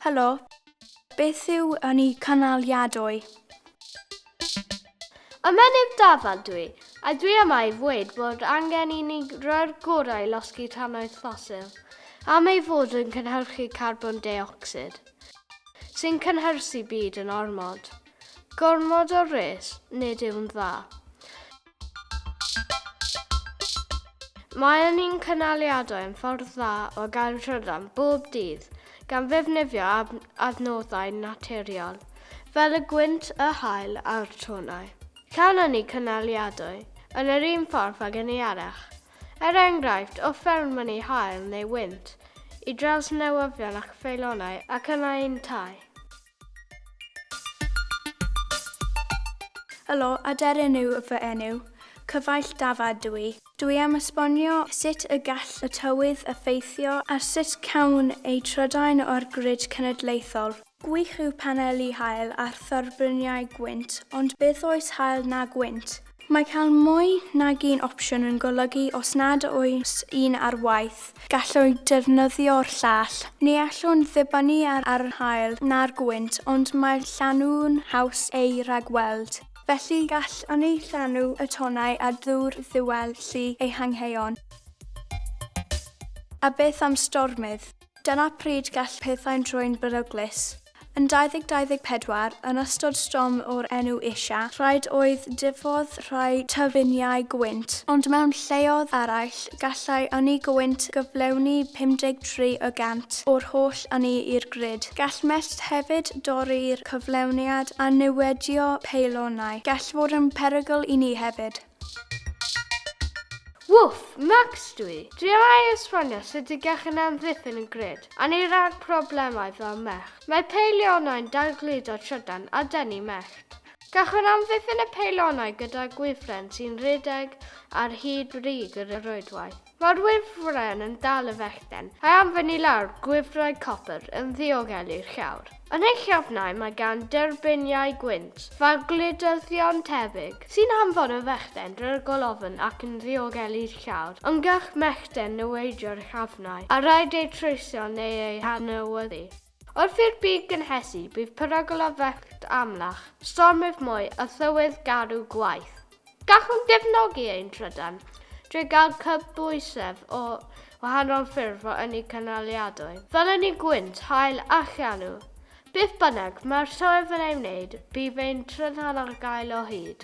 Helo, beth yw yn i canaliadwy? Ymennydd Dafan dwi, a dwi yma i ddweud bod angen i ni roi'r gorau i losgi tannoedd ffosil, am ei fod yn cynhyrchu carbon deocsid. Sy'n cynhyrchu byd yn ormod. Gormod o res, nid yw'n dda. Maen ni'n cynaliadau yn ffordd dda o gael trydan bob dydd, gan ddefnyddio adnoddau naturiol, fel y gwynt, y haul a'r tonnau. Canon ni cynaliadau yn yr un ffordd ag ynni arall, Er enghraifft, o fewn mynnu haul neu wynt, i draws newyddion ac feilonau ac yna i'n tai. Helo, aderyn yw fy enw. Cyfaill dafad dw i. Dw i am esbonio sut y gall y tywydd effeithio ar sut cawn eu trydan o'r grid cenedlaethol. Gwych yw paneli haul a thorfbryniau gwynt, ond beth oes haul na gwynt? Mae cael mwy nag un opsiwn yn golygu os nad oes un ar waith, gallwn defnyddio'r llall. Ni allwn ddibynnu ar yr haul na'r gwynt, ond mae'r llanw'n haws eu rhagweld. Felly, gallwn ni llanw y tonnau â dŵr ddiwell i ehangheuon. A beth am stormydd? Dyna pryd gall pethau'n troi'n beryglus. Yn 2024, yn ystod storm o'r enw Isha, rhaid oedd diffodd rhai tyffiniau gwynt, ond mewn lleoedd eraill, gallai ynni gwynt gyflawni 53 y gant o'r holl ynni i'r grid. Gall mellt hefyd dorri'r cyflawniad a niwedio peilonau. Gall fod yn perygl i ni hefyd. Wff, Max dw i! Dwi am ei esbonio sut y gechan amddiffyn y grid, a ni ran problemau fel mellt. Mae peilionau'n dal gludo trydan a denu mellt. Gallwn amddiffyn y peilionau gyda gwifren sy'n rhedeg ar hyd brig y rhwydwaith. Mae'r wifren yn dal y fechden, a'i anfon i lawr gwifrau copr yn ddiogelu'r llawr. Yn ei chefnau mae gan derbyngiau gwynt fawr gludyddion tebyg, sy'n hanfon y fechden drwy'r golofn ac yn ddiogelu'r llawr. Ond gall mechden niweidio'r llafnau, a rhaid eu treisio neu eu hanewyddu. Wrth i'r byd gynhesu, bydd perygl o fecwt amlach, stormydd mwy a thywydd garw gwaeth. Gallwn gefnogi ein trydan drwy gael cydbwysedd o wahanol ffyrdd o ynni cynaliadwy, fel ynni gwynt, haul a llanw. Beth bynnag mae'r tywydd yn ei wneud, bydd ein trydan ar gael o hyd.